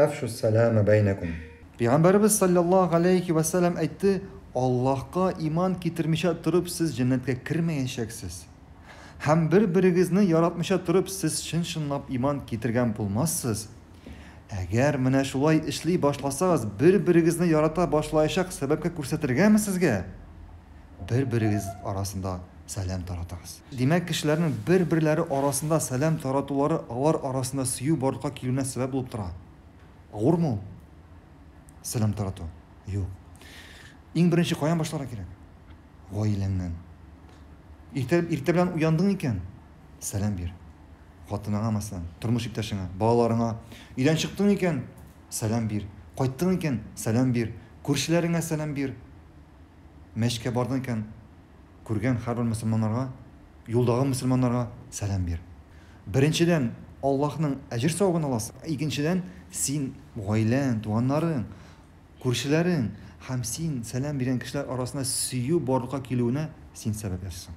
Әфшу ссәләмә бәйнәкум. Пәйгамбәребез салләллаһу галәйһи вә сәләм әйтте, Аллаһка иман китермичә торып сез җәннәткә кермәячәксез. Һәм бер-берегезне яратмыйча торып сез чын-чынлап иман китергән булмассыз. Әгәр менә шулай эшли башласагыз, бер-берегезне ярата башлаячак сәбәпкә күрсәтергәме сезгә? бер-берегез арасында сәлам таратыгыз. Димәк, кешеләрнең бер-берләре арасында сәлам таратулары алар арасында сөю барлыкка килүенә сәбәп булып тора. Авырмы ул сәлам тарату? Юк. Иң беренче каян башларга кирәк? Гаиләңнән. Иртә, иртә белән уяндың икән, сәлам бир. Хатыныңа, мәсәлән, тормыш иптәшеңә, балаларыңа. Өйдән чыктың икән, сәлам бир. Кайттың икән, сәлам бир. Күршеләреңә сәлам бир. Мәчеткә бардың икән, күргән һәрбер мөселманнарга, юлдагы мөселманнарга сәлам бир. Беренчедән, Аллаһның әҗер-савабын аласың, ә икенчедән, син гаиләң, туганнарың, күршеләрең һәм син сәлам биргән кешеләр арасына сөю барлыкка килүенә син сәбәп ясыйсың.